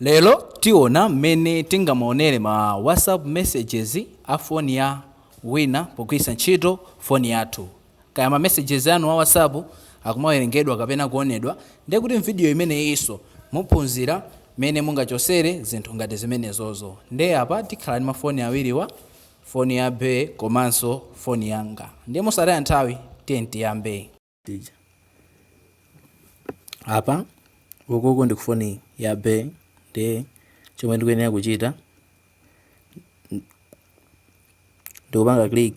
Lero tiona mmene tingamaonere ma WhatsApp messages a foni ya wina pogwiritsa ntchito foni yathu. Kaya ma messages anu a WhatsApp akumawerengedwa kapena kuonedwa, ndiye kuti m'vidiyo imeneyinso muphunzira mmene mungachosere zinthu ngati zimenezozo. Ndiye apa tikhala ndi mafoni awiriwa, foni ya Be komanso foni yanga. Ndiye mosataya nthawi, tiyeni tiyambe. apa ukuku ndi kufoni ya be ndiye chomwe ndikuyenera kuchita ndikupanga click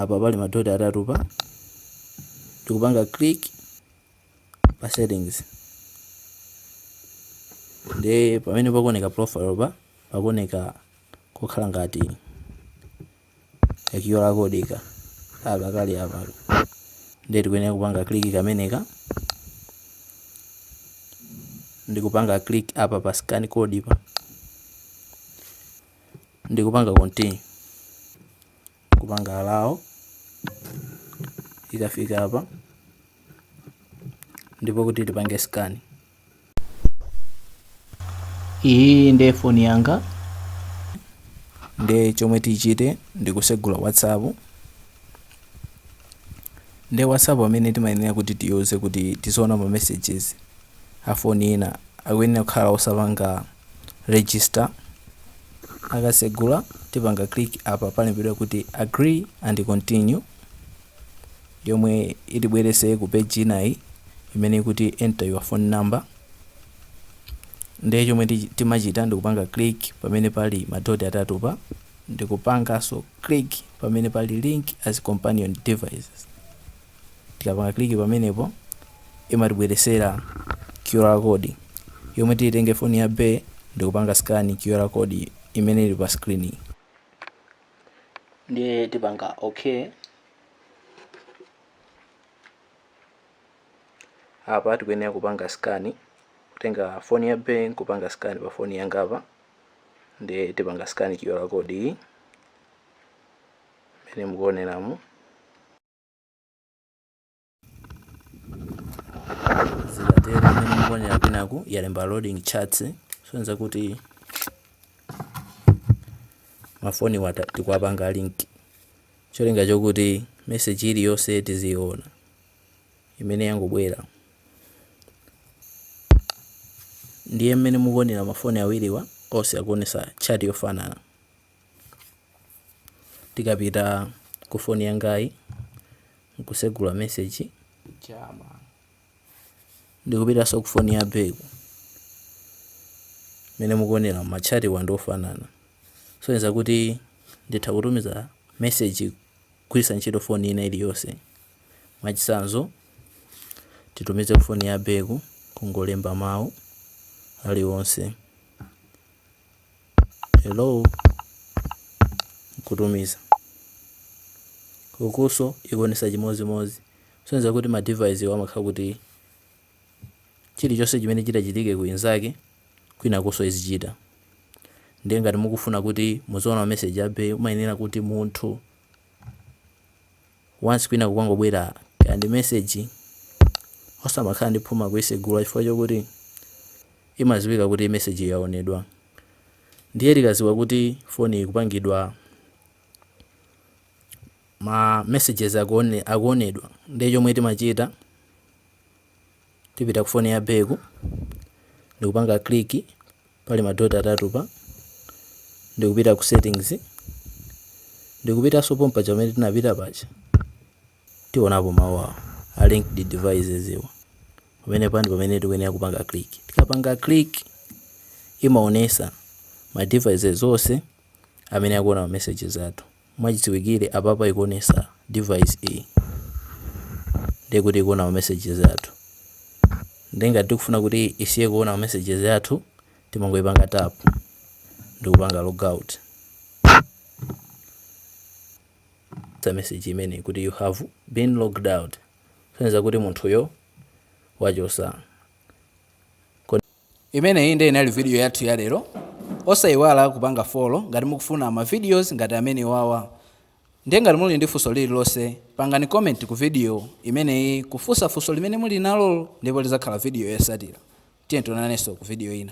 apa pali madoti atatu pa ndikupanga click pa settings ndiye pamene pakuoneka profile pa pakuoneka kukhala ngati ka QR code ka kaka kali apa ndiye tikuyenera kupanga click kameneka ndikupanga click apa pa scan code pa ndikupanga continue kupanga allow ikafika apa ndipo kuti tipange scan iyi ndiye foni yanga nde chomwe tichite ndikusegula whatsapp nde whatsapp amene timayenera kuti tiyuze kuti tizoona ma messages a foni ina akuyenera kukhala osapanga register akasegula tipanga click apa palembedwa kuti agree and continue yomwe itibwerese ku page inayi imene ikuti enter your phone number ndiye chomwe timachita ndikupanga click pamene pali madoti atatu pa ndikupanganso click pamene pali link as companion devices tikapanga click pamenepo imatibweresera qr code yomwe titenge foni ya be ndikupanga scan qr code imene ili pa screen ndiye tipanga okay apa tikuyenera kupanga scan kutenga foni ya be kupanga scan pa foni yanga apa ndiye tipanga scan QR code iyi imene mukuoneramu zikatero mmene mukuonera kwinaku yalemba loading chats sonza kuti mafoni watu tikuwapanga link cholinga chokuti message iliyonse tiziyiona imene yangobwera ndiye mmene mukuonera mafoni awiriwa onse akuonesa chati yofanana tikapita ku foni yangayi nkusegula message chama ndikupitanso ku foni ya bae ku mmene mukuonera matchatiwa ndi ofanana kusonyeza kuti nditha kutumiza message kugwiritsa ntchito foni ina iliyonse mwachitsanzo titumize ku foni ya bae ku kungolemba mawu aliwonse Hello? Kutumiza. Ukunso ikuonesa chimodzimodzi. Kusonyeza kuti ma device wa amakhala kuti chilichonse chimene chitachitike ku inzake kwinakonso izichita. Ndiye ngati mukufuna kuti muziona ma message a bae mumayenera kuti munthu once kwina kukangobwera kaya ndi message osamakhala ndi phuma kuisegula chifukwa chokuti imaziwika kuti message iyo yaonedwa ndiye akaziwa kuti foni ikupangidwa ma messages akuone, akuonedwa ndiye chomwe timachita tipita ku foni ya bae ku ndikupanga click pa ma dot atatuwa ndikupita ku settings ndikupitanso pompaja pamene tinapita paja tionapo mawu awa a linked devices iwa pamenepa ndi pamene tikuyenera kupanga click tikapanga click imaonesa ma devices onse amene akuona ma messages athu Mwachidziwikire apapa ikuonesa device iyi ndiye kuti ikuona ma messages athu ndiye ngati tikufuna kuti isiye kuona ma messages athu timangoipanga tap ndikupanga logout za message imeneyi kuti you have been logged out kusonyeza kuti munthuyo wachosa Imeneyi nde inali video yathu ya lero. Osaiwala kupanga follow ngati mukufuna ma videos ngati amenewawa. Nde ngati muli ndi funso lililonse pangani comment ku video imeneyi kufunsa funso limene muli nalo ndipo lizakhala video yosatira. Tiyeni tionanenso ku video ina.